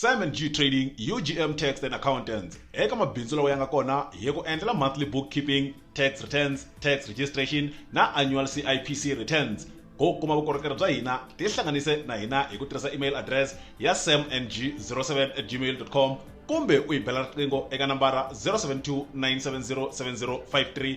Simon G Trading, UGM Tax and Accountants. Eka mabindzu lawa ya nga kona hi ku endlela monthly bookkeeping, tax returns, tax registration na annual CIPC returns. Ku kuma vukorhokeri bya hina, tihlanganise na hina hi ku tirhisa email address ya samng07@gmail.com kumbe u hi bela riqingho eka nambara 0729707053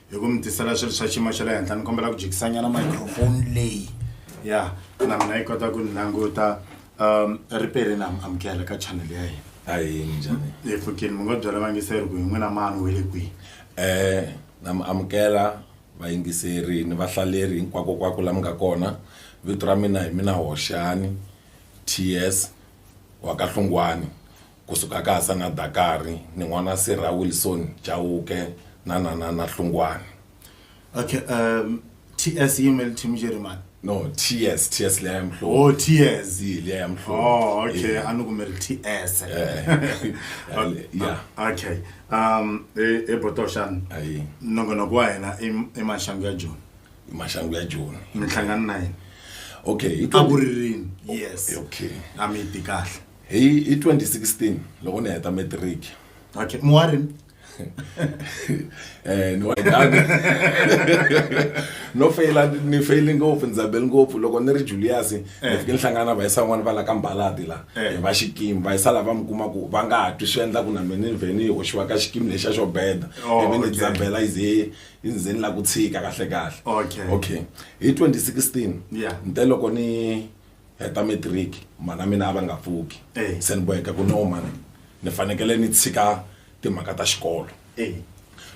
hi ku mi tisela swilo swa xiyimo xa le henhla ni kombela ku jikisanyana microphone leyi ya na mina yi kota ku ni languta um ri pele na amukela ka channel ya hina hayi minjhani hi pfukile mi ngo byela vangiseri ku hi n'wina mani we le kwihi um na mi amukela vayingiseri ni vahlaleri hinkwakokwako la mi nga kona vito ra mina hi mina hoxani ts wa ka hlungwani ku suka ka Hasana Dakari ni n'wana Sirha Wilson Chauke na Nanana Hlungwane. Okay, um, TS yimele team Jeremane. No, TS, TS leya mhlo. Oh, TS. Yi leya mhlo. Oh, okay, yeah. anu kumele TS. Eh. yeah. Okay. Um, e e botoshan. Ayi. Nongonoko wa hina i mashangu ya June. I mashangu ya June. Mihlangano na yena. Okay, i ku ri yes. Okay. Ami tikahle. Hi hi 2016 loko ni heta matric. Okay, mu wa rini? eh ni wa dani no feyila ni feyile ngopfu ndzi zabele ngopfu loko ni ri julius ni eh. fike ni hlangana na vayisan'wana va la ka mbalati la eh. hi va xikimi vayisa lava mi kuma ku va nga ha twi swi endla ku na mina ni vhe ni hoxiwa ka xikimi lexa xo beda oh, ivi ni dzabela yi ze yi ze ni la ku tshika kahle kahle okay hi 2016 ni te loko ni heta matric mhana mina a va nga pfuki se ni boheka ku no mhana ni fanekele ni tshika timhaka ta xikolo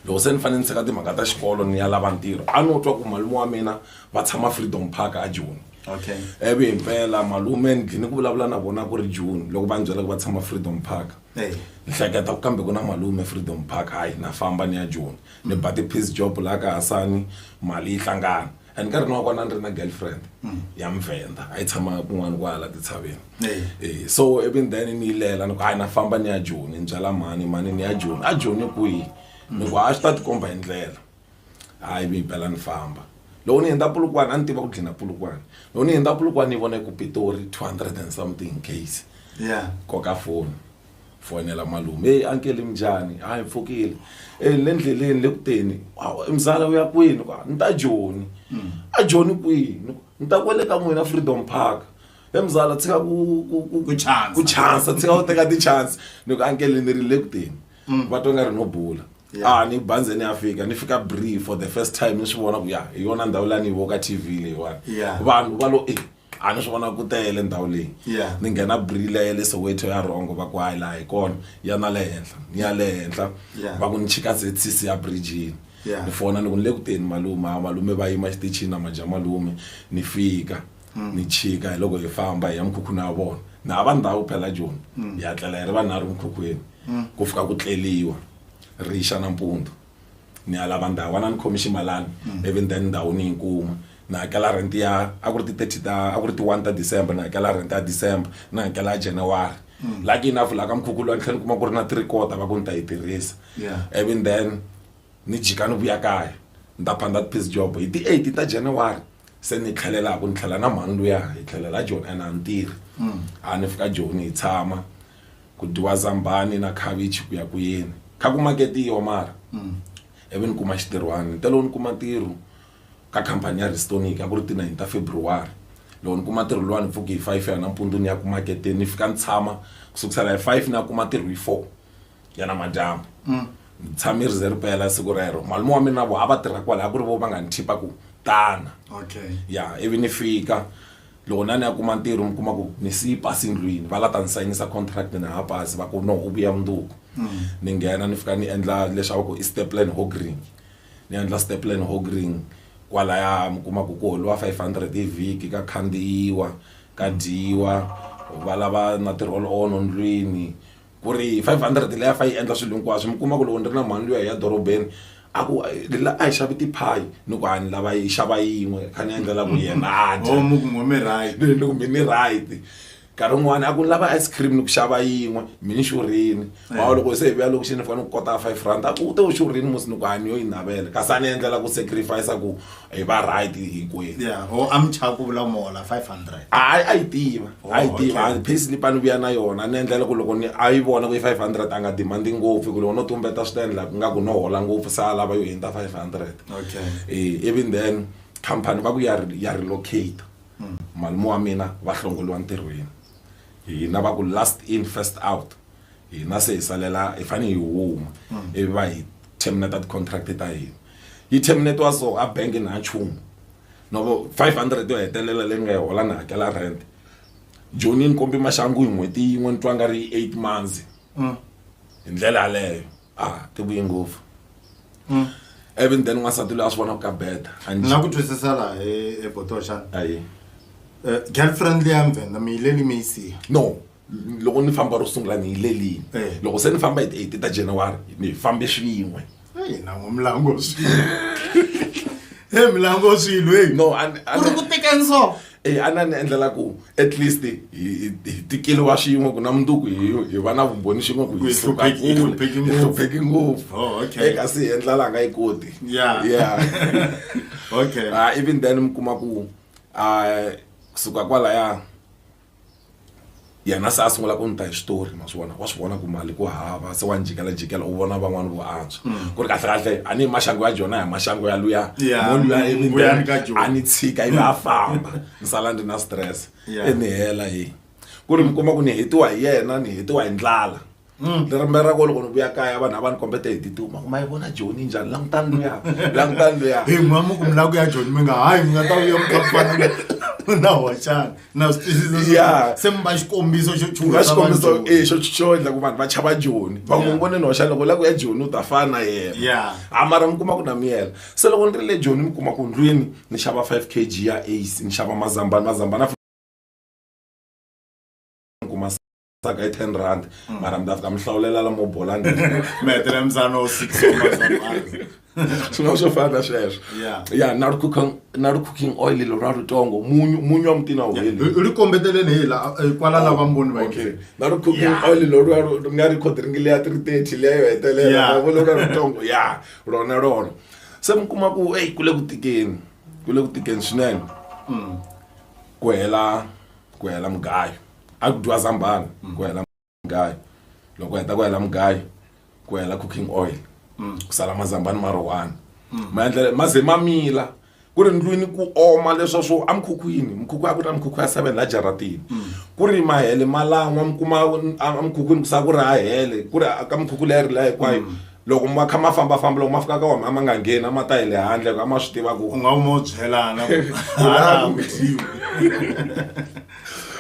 loko se ni fanele ni tshika timhaka ta xikolo ni ya lava ntirho a no twa ku malume wa mina va tshama freedom park a joni okay evi himpela malume ni dlini ku vulavula na vona ku ri june loko va ni byela ku va tshama freedom park ni hleketa ku kambe ku na malume freedom park hayi na famba ni ya joni ni ba ti-piece job laha ka hasani mali yi hlangana hi nkarhi lowu kwana ni ri na girlfriend mm. ya muvhenda a yi tshama kun'wana kwala titshaveni eh. Eh, so even then ni yi lela ni ku hayi na famba ni ya joni ni byala mhani mhani ni ya joni a joni kwihi ni ku hayi swi ta tikomba hi ndlela hayi mi bela ni famba loko ni hundza pulukwana a ni tiva ku dlina pulukwana loko ni hundza pulukwana ni vona ku pitori two hundred and something case koka foni fonela malume heyi ankele minjhani hayi ni pfukile e ni le ndleleni le ku teni "Hawu, mzala u ya kwini ku ni ta joni a joni kwihi Ni ku, ni ta kwele ka n'wina freedom park he mzala tshika ku ku ku Ku chansa. ku chansa tshika u teka ti-chance ni ku ankele ni ri le ku teni va twa nga ri no bula Yeah. a ni banze ni ya fika ni fika bree for the first time ni swi vona ku ya hi yona ndhawu la ni yi vo ka tv leyiwani Yeah. vanhu va lo e a ni swi vona ku tele ndhawu leyi Yeah. ni nghena brila ya le soweto ya rhongo va ku hayi laha hi kona ya na le henhla ni ya le henhla Yeah. va ku ni chika zcc ya brijini Yeah. ni fona ni ku ni le ku teni malume a malume va yima xitichini na maja malume ni fika ni chika hi loko hi famba hi ya mikhukhwini ya vona na hava ndhawu phela joni hi ya tlela hi ri vanharhu mikhukhwini ku fika ku tleliwa rixa nampundzu Ni ya lava ndhawu, a na ni khomi ximalani ivi then ndhawu ni yi kuma. Ni hakela rent ya a ku ri ti thirty ta a ku ri ti one ta December ni hakela rent ya December ni hakela ya January. Lucky enough laha ka mukhukhu luwa ni tlhela ni kuma ku ri na three quarter va ku ni ta yi tirhisa ivi then ni jika ni vuya kaya ni ta phanda ti-piece job hi ti eight ta January se ni tlhelela hi ku ni tlhela na mhani luya hi tlhelela Joni and a ni tirhi a ni fika Joni hi tshama. Ku dyiwa zambhani na khavichi ku ya ku yini. Kha ku maketiwa mara ivi ni kuma xintirhwana. Ni te loko ni kuma ntirho ka khampani ya Restonic a ku ri ti-nine ta February. Loko ni kuma ntirho luwa ni pfuke hi five ya nampundzu ni ya ku maketeni ni fika ni tshama ku sukusela hi five ni ya kuma ntirho hi four ya namadyambu. Ni tshame ri ze ri pela siku rero. Malume wa mina na vona a va tirha kwalaya a ku ri vona va nga ni khipa ku tana. Okay. Ya ivi ni fika Loko na ni ya kuma ntirho mi kuma ku ni siyi pasi ndlwini va la ta ni sayinisa contract na ha pasi va ku no u vuya mundzuku ni nghena ni fika ni endla leswi a va ku i staplan hogring ni endla staplan hogring kwalaya mi kuma ku ku holiwa five hundred hi vhiki ka khandziyiwa ka dyiwa valava na ti-roll on ndlwini ku ri five hundred leyi a fa yi endla swilo hinkwaswo mi kuma ku loko ni ri na mhani luya hi ya dorobeni a ku la a hi xavi tiphayi ni ku a ni lava yi xava yin'we kha ni endlela ku yena a dya Oh, mi ku ngome right ni loko mi ni right nkarhi wun'wani a ku ni lava ice cream ni ku xava yin'we mi ni xurhini wa loko se hi vuya loko xi ni fanele ku kota five rand a ku u te u xurhini musi ni ku a ni yo yi navela kasi a ni endlela ku sacrifice ku hi va right hinkwenu yeah ho amcha ku vula mola 500 hayi a yi tiva a yi tiva a pay slip a ni vuya na yona ni endlela ku loko ni a yi vona ku yi 500 a nga demandi ngopfu ku loko no tumbeta swi ta endla ku nga ku no hola ngopfu se a lava yo hundza 500 okay eh even then company va ku ya ya relocate malume wa mina va hlongoliwa ntirhweni hina va ku last in first out hina se hi salela hi fane hi huma ivi va hi terminate ti-contract ta hina yi terminate-wa so a bank na nchumu no 500 yo hetelela leyi ni nga yi hola ni hakela rent joni ni kombi maxangu hi n'hweti yin'we ni twa nga ri eight months hi ndlela yaleyo a ti vuye ngopfu even then n'wansati loyi a swi vona ku ka beta a ni na ku twisisa laha e- ebotoxana ayi um girlfriend leya mvhenda mi yileli mi yi siya no loko ni famba ro sungula ni yilelini eh. loko se ni famba hi ti-eight ta january ni fambe swin'we nango milango e milango swilo e no ku ri ku teka nso e a na ni endlela ku at least hi tikeliwa swin'we ku na munduku hi va na vumbhoni xin'we ku hi hlupheki ngopfu oh, e kasi hi endla laha nga yi koti ya okay ah, even then mi kuma ku a ah, kusuka kwalaya yena se a sungula ku ni ta hi xitori ma swi vona wa swi vona ku mali ku hava se wa ni jikelajikela u vona van'wani vo antswa mm. ku ri kahlekahle a ni hi maxangu ya jona hi maxangu ya luya mo luya emindzeni a ni tshika ivi a famba ni sala ni ri na stress e ni hela hi ku ri mi kuma ku ni hetiwa hi yena ni hetiwa hi ndlala Mm. ni rimbe ra ko loko ni vuya kaya vanhu a va ni kombete hi tituma kuma yi vona joni njhani langutani luya langutani luya hi mama ku milaka ya joni mi nga hayi mi nga ta vuya mukhampani na hoxana na swi twisisa se mi va xikombiso xo chuha xikombiso e xo xo endla ku vanhu va chava joni va n'wi vone ni hoxana loko la ku ya joni u ta fana na yena a mara mi kuma ku na miyela se loko ni ri le joni mi kuma ku ndlwini ni xava five k g ya ace ni xava mazambani mazambani saka hi ten rand mm. mara mi ta fika mi hlawulela lamo bola mi hetela mzana wo six swin'wana swo fana na sweswo ya na ri cooking na ri cooking oil lero ra ritongo munyu munyu wa mutina wu heli ri kombeteleni hi la eh, kwala oh, lava mboni va okay na ri cooking oil lero ri nga ri khodiringi leya three thirty leya yo hetelela vo lero ra ritongo ya rona rona se mi kuma ku eyi ku le ku tikeni ku le ku tikeni swinene mm. ku hela ku hela mugayo a ku dyiwa zambhana mm. ku hela mugayo loko heta ku hela mugayo ku hela cooking oil mm. ku sala mazambhani ma rohwana mm. ma endlela ma ze ma mila ku ri ndlwini ku oma leswa swo emukhukhwini mukhukhu a ku ri na mukhukhu ya seven la jaratini mm. ku ri mahele malan'wa mi kuma emukhukhwini ku sa ku ri ha hele ku ri ka mukhukhu leyi ri la hinkwayo mm. loko ma kha ma fambafamba loko ma fika ka wona a ma nga ngheni a ma ta hi le handle a ma swi tiva ku u nga u mo byelana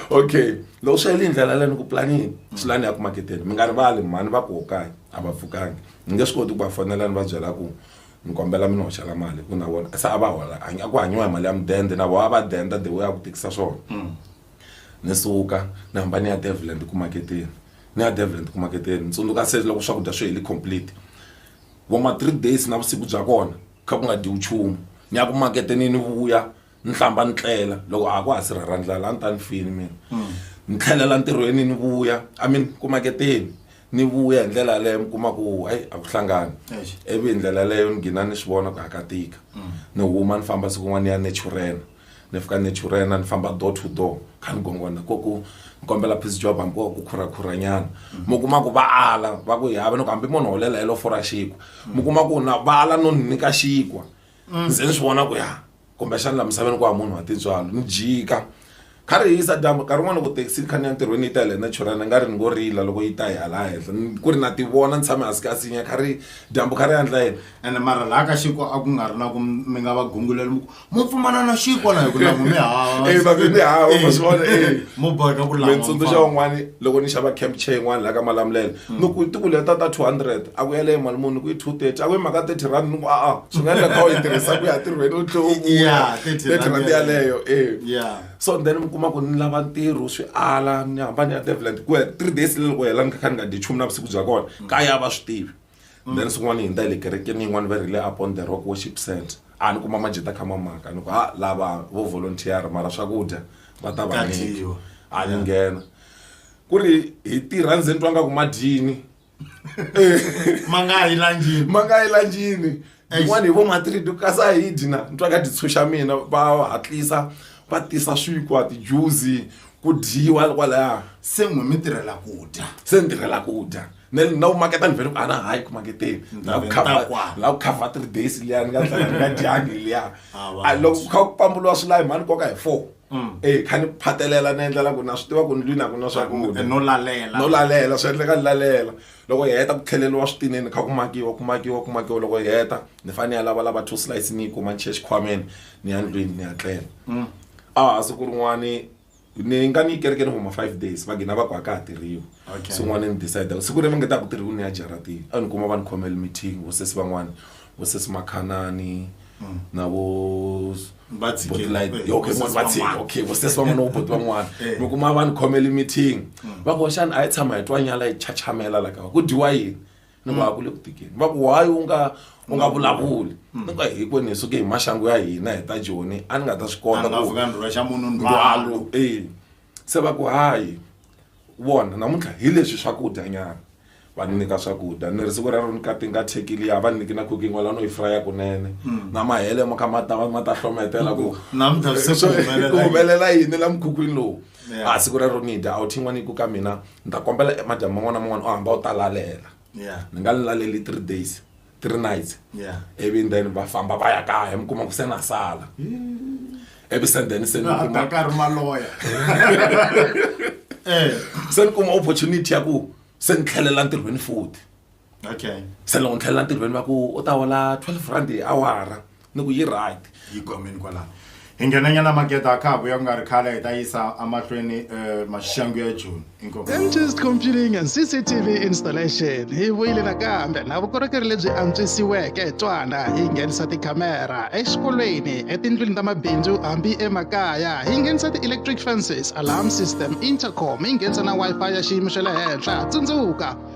okay loko swi heli ndlela leni ku planini swi lani ya ku maketeni mi nga rivali mhani va koho kaya a va pfukangi ni nge swi koti ku va fonela ni va byela ku ni kombela mi ni hoxela mali ku na vona se a va hola a ku hanyiwa hi mali ya mudende na vona a va denda the way a ku tikisa swona mm. ni suka ni hamba ni ya deviland ku maketeni ni ya deviland ku maketeni ni tsundzuka se loko swakudya swi heli complete vo ma three days na vusiku bya kona kha ku nga dyiwi nchumu ni ya ku maketeni ni vuya ni hlamba ni tlela loko a ku ha si rhara ndlala a ni ta ni fini mina ni tlhelela ntirhweni ni vuya i mean ku maketeni ni vuya hi ndlela yaleyo mi kuma ku ayi a ku hlangani Eish. ivi hi ndlela yaleyo ni gina ni swi vona ku hakatika ni huma ni famba siku n'wana ni ya naturena ni fika naturena ni famba door to door kha ni gongona ko ku ni kombela piece job hambi ko ku khurakhuranyana mi kuma ku va ala va ku hi hava ni ku hambi munhu holela helo fora xinkwa mi kuma ku na va ala no ni nyika xinkwa ndzi ni swi vona ku ya kumbexana la misaveni ku ha munhu wa tintswalo ni jika kha ri hisa dyambu nkarhi wun'wana loko thekisi ni kha ni ya ntirhweni yi ta hi le naturana nga ri ni ngo rila loko yi ta hi hala henhla Ni- ku ri na ti vona ni tshame hansi ka sinya kha ri dyambu kha ri yandla yena ene mara laha ka xiko a ku nga ri na ku m- mi nga va gunguleli mu ku mu pfumana na xiko na hi ku langu mi hava Eh, babe, mi hava, ma swi vona, eh. mo boheka ku mi lan'wa tsundzuxa mfana. un'wana loko ni xava camp chair yin'wana laha ka malamulelo ni ku ti ku leta ta 200 a ku yaleyo mali muni ku yi 230 a ku yi mhaka 30 rand ni ku a-a swi nga endla kha u yi tirhisa ku ya tirhweni u tlhe u vuya 30 rand yaleyo e so then mi kuma ku ni lava ntirho swi ala ni hamba ni ya develand ku ya three days le loko hela ni kha ni nga dyi nchumu na vusiku bya kona mm. kaya va swi tivi mm. then swin'wana hi ndza hi le kerekeni yin'wana va rile upon the rock worship center a ni kuma majita kha mamaka ni ku ha lava vo volunteer mara swakudya va ta va ni a ni nghena ku ri hi tirha ndzeni twa nga ku madyini ma nga yi lanjini ma nga yi lanjini yin'wana hi vo matiridi kasi a hi dyi na ni twa ka titshuxa mina va hatlisa va tisa swikwa tijuzi ku dyiwa kwalaya se n'wi mi tirhela ku dya se ni tirhela ku dya na na ku maketa ni vhele ku ana hayi ku maketeni na ku cover na ku cover three days liya ni nga tlanga ni nga dyangi liya loko ku kha ku pamburiwa swilayi mhani koka hi four Mm. e kha ni phatelela ni endlela ku na swi tiva ku ni lwini a ku na swakudya no lalela no lalela swi endleka ni lalela loko hi heta ku tlheleriwa switineni kha ku makiwa ku makiwa ku makiwa loko hi heta ni fanele ya lava lava two slice ni yi kuma ni chiya xikhwameni ni ya ndlwini ni ya tlela mm. a ah, siku rin'wani ni nga ni kerekeni huma five days va gina va ku a ka ha tirhiwi swin'wana ni decide siku leri va nge ta ku tirhiwi ni ya jaratini a ni kuma va ni khomele meeting vosesi van'wana vo sesi makhanani na vo Va tshike. Botlight. Eh, okay vo sesi va tshike van'wana. okay vo sesi van'wana na vo boti van'wana Eh. mi kuma va ni khomeli meeting va ku xana a yi tshama hi twa nyala yi chachamela la kava ku dyiwa yini ni ku a ku le ku tikeni va ku why u nga u nga vulavuli ni ku hinkwenu hi suke hi maxangu ya hina hi ta joni a ni nga ta swi kota Vanhu va ku vuka ndlhula xa munhu ndwalo ndwalo eh Se va ku, Hayi, vona, namuntlha hi leswi swakudya nyana. Va ni nyika swakudya. Ni ri, Siku rero ni kati nga thyeki liya, a va ni nyiki na cooking oil, a no yi fraya kunene. Na mahele mo kha ma ta va ma ta hlometela ku, Namuntlha se ku humelela Ku yini? humelela yini la mukhukhwini lowu? Yeah. A siku rero ni dya, a wu thyi n'wana yi ku ka mina, ni ta kombela madyambu man'wana na man'wana u hamba u ta lalela. Yeah. Ni nga ni laleli three days. three nights Yeah. ivi and then va famba va ya kaya mi kuma ku se na sala ivi se then se ni Laha kuma Dakar maloya. Eh. se ni kuma opportunity ya ku se ni tlhelela ntirhweni futhi Okay. se loko ni tlhelela ntirhweni va ku u ta hola 12 rand hi awara ni ku yi right yi gomeni kwalano hi nghenanyana makete a khaku ya ku nga ri khale hi ta yisa amahlweni um eh, maxangu ya joni inkomptist computing and cctv installation hi vuyile nakambe na vukorhokeri lebyi antswisiweke twana hi nghenisa tikhamera exikolweni etindlwini ta mabindzu hambi emakaya hi nghenisa ti-electric fences alarm system intercom hi nghenisa na wi-fi ya xiyimo xa le henhla tsundzuka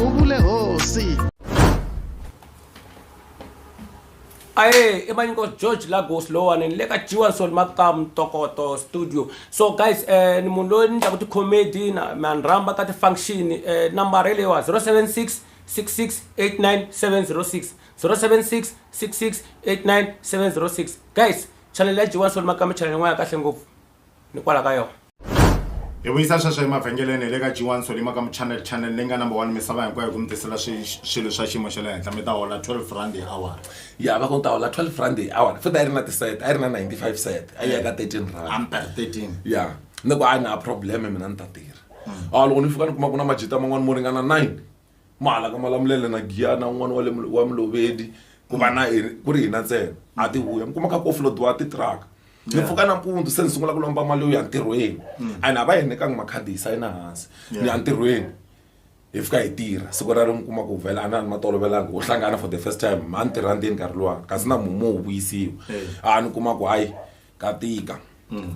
uvule hosi aye emaniko george lagos lowani ni le ka jiwanson maka mtokoto studio so guys eh, ni munhu loyi ni ndlaku ti-comedy na ma ni rhamba ka ti-function eh, nambara yi leyiwa 076 6689706 076 6689706 guys chanele ya jiwanson maka mi chanele n'wana ya kahle ngopfu ni kwala ka yona hi vuyisa sweswo emavhengeleni hi le ka g1 solima ka muchannel channel leyi nga number one misava hinkwayo hi ku mi tisela swilo swa xiyimo xa le henhla mi ta hola 12 rand hi awara ya va ku ta hola 12 rand hi awara futhi a yi ri na tiset a yi ri na 95 set a yi ya ka 13 rand amper 13 ya ni ku a yi na probleme mina ni ta tirha a loko ni fika ni kuma ku na majita man'wani mo ringana 9 mahala ka malamulelo na giyana un'wana wa le wa mulovedi ku va na ku ri hina ntsena a ti vuya mi kuma ka ku offloadiwa titiraka ni pfuka nampundzu se ni sungula ku lomba mali yo ya ntirhweni mm. and a va hi nyikanga makhadi hi sayina hansi ni ya ntirhweni hi fika hi tirha siku ra ri mi kuma ku vhela a na ni matolovelanga wo hlangana for the first time ma ni tirha ndzeni nkarhi luwani kasi na mumo wu vuyisiwa a ni kuma ku hayi ka tika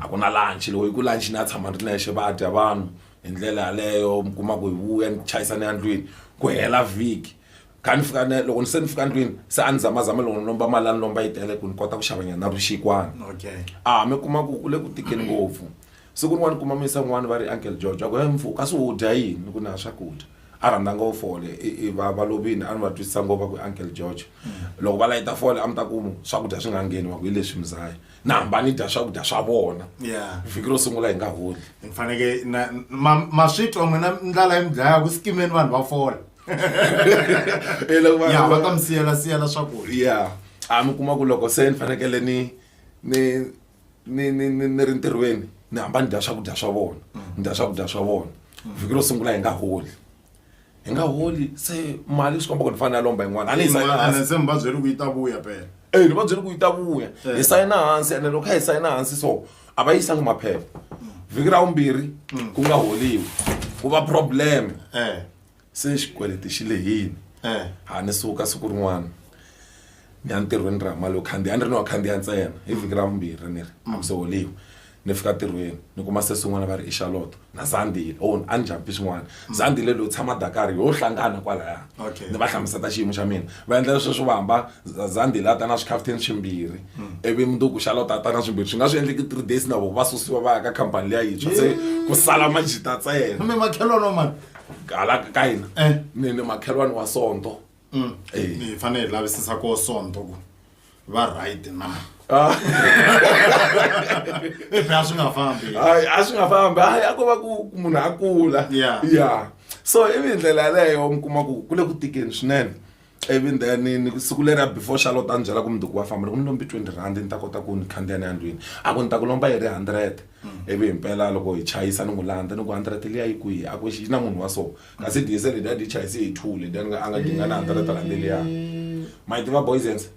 a ku na lunch loko yi ku lunch ni ya tshama ni ri nexe va dya vanhu hi ndlela yaleyo mi kuma ku hi vuya ni chayisa ni ya ndlwini ku hela vhiki kha ni fika ni loko ni se ni fika ndlwini se a ni zamazama loko ni lomba mali a ni lomba yi tele ku ni kota ku xavanyana na vuxikwana okay a mi kuma ku ku le ku tikeni ngopfu Siku rin'wana ni kuma muyisa un'wana va ri, Uncle George, va ku, he mfu, kasi u dya yini? Ni ku, ni ha swakudya. A rhandza ngopfu fole. I, i, va, va lovile. A ni va twisisa ngopfu, va ku, Uncle George, loko va layita fole, a mi ta ku, swakudya swi nga ngheni. Va ku, hi leswi mzaya. Ni hamba ni dya swakudya swa vona. Yeah. Vhiki ro sungula hi nga holi. Ni faneke na, ma, ma swi twa n'wina ndlala yi mi dlaya, ku sikimeni vanhu va fola. E loko va- Ya, va ta mi siyela-siyela swakudya. Yeah. A mi kuma ku loko se ni fanekele ni, ni, ni ni ni ni ri ntirhweni ni hamba ni dya swakudya swa vona ni dya swakudya swa vona vhiki ro sungula hi nga holi hi nga holi se mali swi komba ku ni fanele a lomba yin'wana a ni yi sayina Mara hansi se mi va byele ku yi ta vuya pela eyi ni va byele ku yi ta vuya Eh. hi sayina hansi ene loko kha hi sayina hansi so a va yisanga maphepha vhiki ra vumbirhi ku nga holiwi ku va problem eh se xikweleti xi lehile ha ni suka siku rin'wana ni ya ntirhweni ra mali yo khandziya a ni ri ni wa khandziya ntsena hi vhiki ra vumbirhi ni ri a mi se holiwi ni fika ntirhweni ni kuma se swin'wana va ri i xaloto na zandile o a ni njhampi swin'wana zandile loyi tshama dakari ho hlangana kwalaya ni va hlamuseta xiyimo xa mina va endla leswi swi va hamba zandile a ta na swikhafuthini swimbirhi ivi mundzuku xaloto a ta na swimbirhi swi nga swi endleki three days na vona va susiwa va ya ka khampani liya yintshwa se ku sala majita ntsena hala ka hina Eh. ni ni makhelwani wa sonto Eh. ni fanele hi lavisisa ko sonto ku va right na Ah. if a swi nga fambi hayi a swi nga fambi hayi a ko va ku ku munhu a kula Yeah. ya so ivi hi ndlela yaleyo mi kuma ku ku le ku tikeni swinene ivi then ni siku leriya before charlotte a ni byela ku mundzuku wa famba loko ni lombi twenty rand ni ta kota ku ni khandziya ni ya ndlwini a ku ni ta ku lomba yi ri hundred ivi hi mpela loko hi chayisa ni n'wi landza ni ku hundred liya yi kwihi a ku yi na munhu wa so kasi diesel liya ni yi chayise hi two leti a ni nga a nga dinga na hundred rand liya ma yi tiva boysens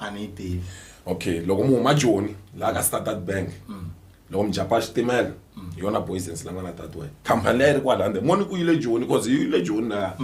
a ni yi tivi okay loko mi huma joni laha ka standard bank loko mi japa xitimela hi yona boysens la nga na tatiwe khampani leyi ri kwalande moni ku yile joni cause yi yile joni laya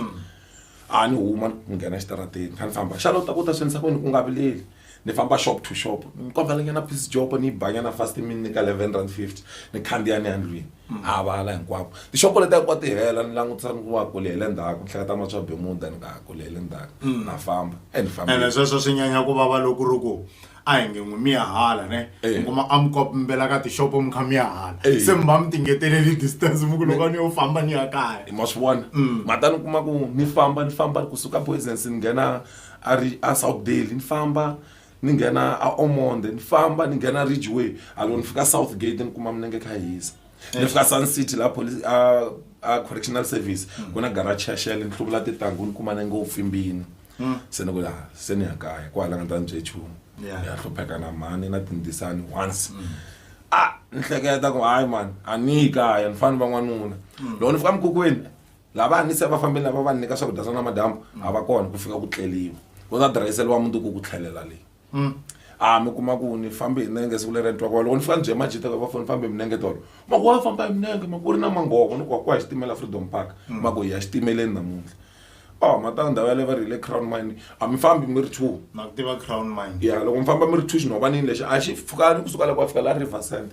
a ni huma ni nghena exitarateni ni kha ni famba xana u ta ku ta swi endlisa ku yini u nga vileli ni famba shop to shop ni kombelanyana piece job ni yi banyana fast mi ni nyika eleven rand fifty ni khandziya ni ya ndlwini a vala hinkwako tixopo leti hinkwa ti hela ni langutisa ni ku wa kule hi le ndzhaku ni hleketa ma swa bemuda ni nga ha kule hi le ndzhaku na famba e ni fambile ene sweswo swi nyanya ku vava loko ri ku a hi nge n'wi mi ya hala ne mi kuma a mi kombela ka tixopo mi kha mi ya hala se mi va mi tingeteleli distance mi ku loko a ni yo famba ni ya kaya ma swi vona ma ta ni kuma ku ni famba ni famba kusuka Booysens ni nghena a ri a Southdale ni famba ni nghena a Ormonde ni famba ni nghena Ridgeway a loko ni fika Southgate ni kuma milenge yi kha yi hisa ni fika Sun City laha police a a correctional service ku na garage ya Shell ni hluvula tintangu ni kuma nenge wu pfimbile. Mm. se ni ku ya se ni ya kaya ku halanga ndza ni bye chumu Yeah. ni ya hlupheka na mhani na tindisani once a ni hleketa ku hayi mani a ni yi kaya ni fani va n'wanuna loko ni fika mukhukhweni lava a ni se va fambeli lava va ni nyika swakudya swa namadyambu a va kona ku fika ku tleliwa ku ta dirayiseliwa mundzuku ku tlhelela leyi Mm. a ah, mi kuma ku ni fambe hi nenge siku leri ntwa kwalo loko ni fika ni bye majita va foni fambe hi minenge tolo mako wa famba hi minenge mako ri na manghovo ni ku wa ku ya xitimela freedom park mm. mako hi ya xitimeleni namuntlha o oh, matanga ndhawu yaleyo va ri hi le crown mine a mi fambi mi ri two na ku tiva crown mine ya loko mi famba mi ri two xinhovanini lexi a xi pfukani kusuka loko a fika la river cent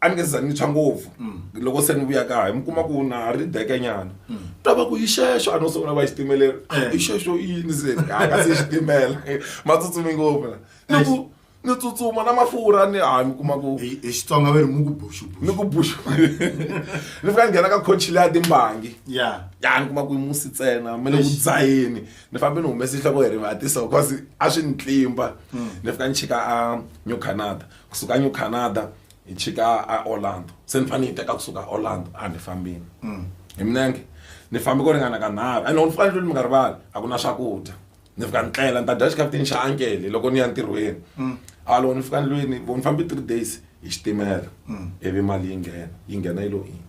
a ni nge za ni tshwa ngopfu loko se ni vuya kaya mi kuma ku na ha ri deke nyana ta va ku yi xexo a no sungula va xitimeleni Eh. i xexo yini se a ka se xitimela ma tsutsumi ngopfu la ni ku ni tsutsuma na mafurha ni ha mi kuma ku hi hi xitsonga va ri mu ku ni buxubuxu ku buxa ni fika ni nghena ka coach leya timbangi ya ya ni kuma ku yi musi ntsena mi le ku Eish. dzaheni ni fambe ni humese nhloko hi rivatisa because a swi ni tlimba ni fika ni chika a new canada kusuka new canada hi chika a orlando se ni fanele ni yi teka kusuka a orlando a ni fambini mm. hi minenge ni fambe ku ringana ka nharhu and ni fika ndlwini mi nga rivali a ku na swakudya ni fika ni tlela ni ta dya xikaputini xa ankele loko ni ya ntirhweni mm. a loko ni fika ndlwini vo ni fambe three days hi xitimela mm. ivi mali yi nghena yi nghena yi lo ini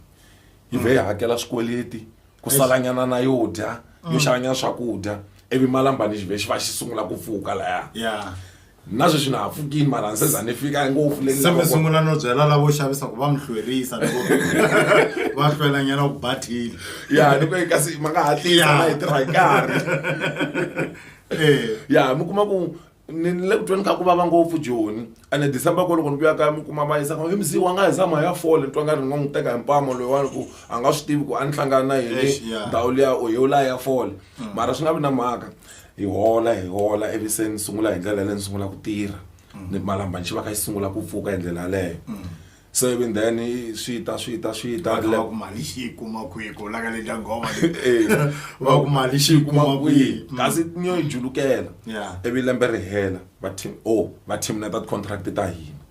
yi vhe yi hakela swikweleti ku salanyana na yo dya yo xavanyana swakudya ivi malambani xi vhe xi va xi sungula ku pfuka laya na sweswi na ha pfukini mara ni se za ni fika ngopfu le ni se mi lavaka- sungula no byela lavo xavisa ku va mi hlwerisa loko va hlwela nyana ku bathile ya ni kwe kasi ma nga hatlisa Ya. na yi tirha hi nkarhi Eh, ya mi kuma ku ni ni le ku tweni ka ku vava ngopfu joni ene december ko loko ni vuya kaya mi kuma va yisa hi misiwa nga hi zama ya fole ni twa nga ri ni nga n'wi teka hi mpamo loyiwani ku a nga swi tivi ku a ni hlangana na Eish, yini ya. ndhawu liya o yewulaya ya fole mara swi nga vi na mhaka hi hola hi hola ivi se ni sungula hi ndlela leyi ni sungula ku tirha ni malambani xi va kha xi sungula ku pfuka hi ndlela yaleyo se ivi then i- swi ta swi ta swi ta va ku mali xi yi kuma kwihi ku laka le dyangoma Eh, va ku mali xi yi kuma kwihi Mm. kasi ni yo yi julukela Yeah. ivi lembe ri hela va team o va team na ta ti-contract ta hina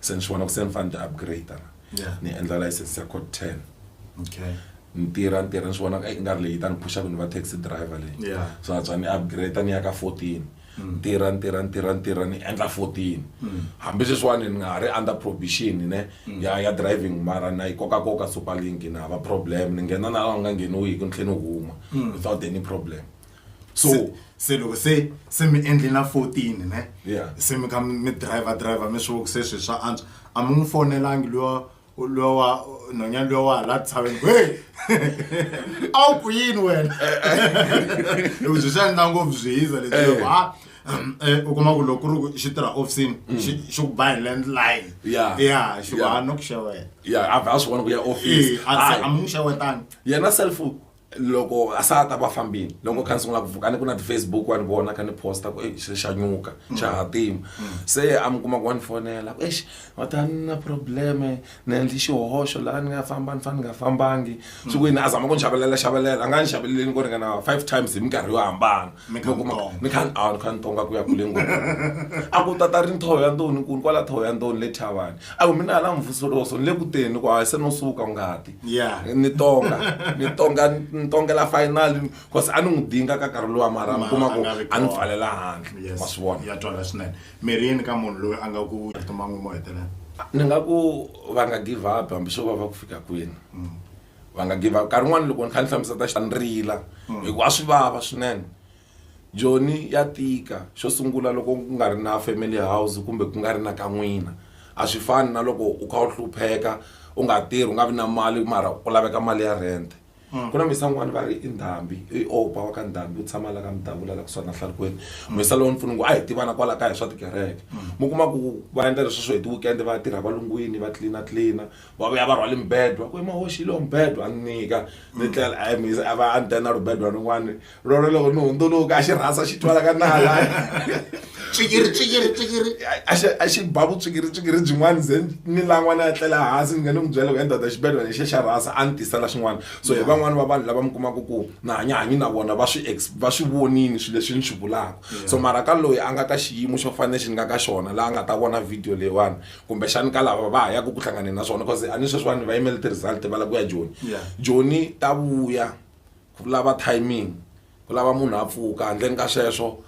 se ni swi vona ku se ni fanele ni ti upgrade ni endla license ya code ten okay ni tirha ni tirha ni swi vona i nga ri leyi ta ni phusha ku ni va taxi driver leyi so antswa ni upgrade ni ya ka fourteen ni tirha ni tirha ni tirha ni tirha ni endla fourteen hambi sweswiwani ni nga ha ri under provision ne ya ya driving mara na yi koka koka super link na hava problem ni nghena na laha ku nga ngheniwiki ni tlhela ni huma without any problem. so Se- se loko se se mi endle na 14 ne Yeah. se mi ka mi driver driver mi swi se swi swa antswa a mi n'wi fonelangi luya luya wa nhonyani luya wa hala tshaveni ku hey a wu ku yini wena loko byi swi endla ngopfu byi hiza leswi loko ha um, eh, u kuma ku loko ku ri ku xi tirha ofisini xi xi ku ba hi landline Mm. Yeah. ya xi ku Yeah. ha no ku xeweta ya a vha a swi vona ku ya office Eh, a Hayi. a mi n'wi xewetanga yena self loko a sa ta va fambini loko kha ni sungula ku vuka ni ku na ti-facebook wa ni vona kha ni posta ku eyi xi xa nyuka xa hatima se a mi kuma ku wa ni fonela ku exi va ta ni na probleme ni endli xihoxo laha ni nga famba ni fane ni nga fambangi swi ku yini a zama ku ni xavelela xavelela a nga ni xaveleleni ko ringana five times hi minkarhi yo hambana mikhantonga mikhantonga ku ya kule ngopfu a ku tata ri nthoho ya ndoni kulu kwala thoho ya ndoni le thavani a ku mina hala mvusoloso ni le ku teni ku hayi se no suka ngati ni tonga ni tonga ni tongela final cause a ni n'wi dinga ka karhi lowa mara mi kuma ku a ni pfalela handle ma swi vona ya twala swinene mirhi yini ka munhu loyi a nga ku rito man'we mo hetelela ni nga ku va nga give up hambi swo va va ku fika kwini mm. va nga give up nkarhi wun'wani loko ni kha ni hlamusa ta ni rila hi ku a swi vava swinene joni ya tika xo sungula loko ku nga ri na family house kumbe ku nga ri na ka n'wina a swi fani na loko u kha u hlupheka u nga tirhi u nga vi na mali mara ku laveka mali ya rent ku na muyisa n'wani va ri i ndhambi i opa wa ka ndhambi u tshama la ka mudavula la kusuhana hlalukweni muyisa lowu ni pfuna ku a hi tivana kwala kaya hi swa tikereke mi kuma ku va endla leswi swo hi ti-weekend va ya tirha valungwini va tlilina tlilina va vuya va rhwale mibedwa ku emahoxi lowu mibedwa a ni nyika ni mm. tlela a mi a va a ni tena ribedwa rin'wana rona loko ni hundzuluka a xi rhasa xi twala ka nala tswikiri tswikiri tswikiri a xi ba vutswikiri tswikiri byin'wana ze ni lan'wana ya tlela hansi ni nga ni n'wi byela ku endhada xibedwa lexi xa rhasa a ni tisela xin'wana so hi mm. van'wani va vanhu lava mi kumaka ku na hanyahanyi na vona va swi va swi vonini swilo leswi ni swi vulaka so mara ka loyi a nga ka xiyimo xo fanele xi ni nga ka xona laha a nga ta vona video leyiwani kumbexani ka lava va ha yaka ku hlanganeni na swona bcause a ni sweswiwani va yimele ti-result va lava ku ya joni joni ta vuya ku lava timing ku lava munhu a pfuka handleni ka sweswo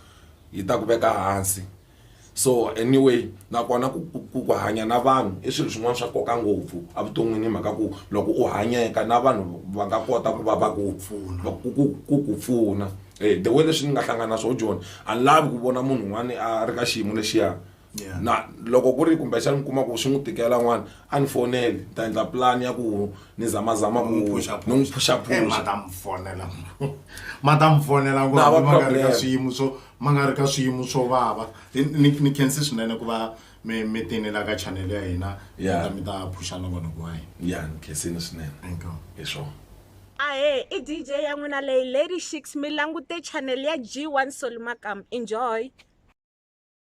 yi ta ku veka hansi so anyway nakona ku ku ku hanya na vanhu i swilo swin'wana swa nkoka ngopfu evuton'wini hi mhaka ku loko u hanyeka na vanhu va nga kota ku va va ku pfuna ku ku ku ku pfuna the way leswi ni nga hlangana na swo joni a ni lavi ku vona munhu un'wani a ri ka xiyimo lexiya Yeah. na loko ku ri kumbexana mi kuma ku swi n'wi tikela n'wana a ni foneli ni ta endla pulani ya ku ni zamazama ku ni n'wi Eh, phuxaphuxa matamfonela matamfonela Na, va ma nga ri ka problem. swiyimo swo ma nga ri ka swiyimo swo vava Ni- ni ni khensi swinene ku va mi mi tinela ka channel ya hina mi Yeah. ta mi ta phuxa na vanhu wa hina ya ni khensini swinene Inkomu. hi swona ahe i dj ya n'wina leyi lady shix mi langute channel ya g1 solimakam enjoy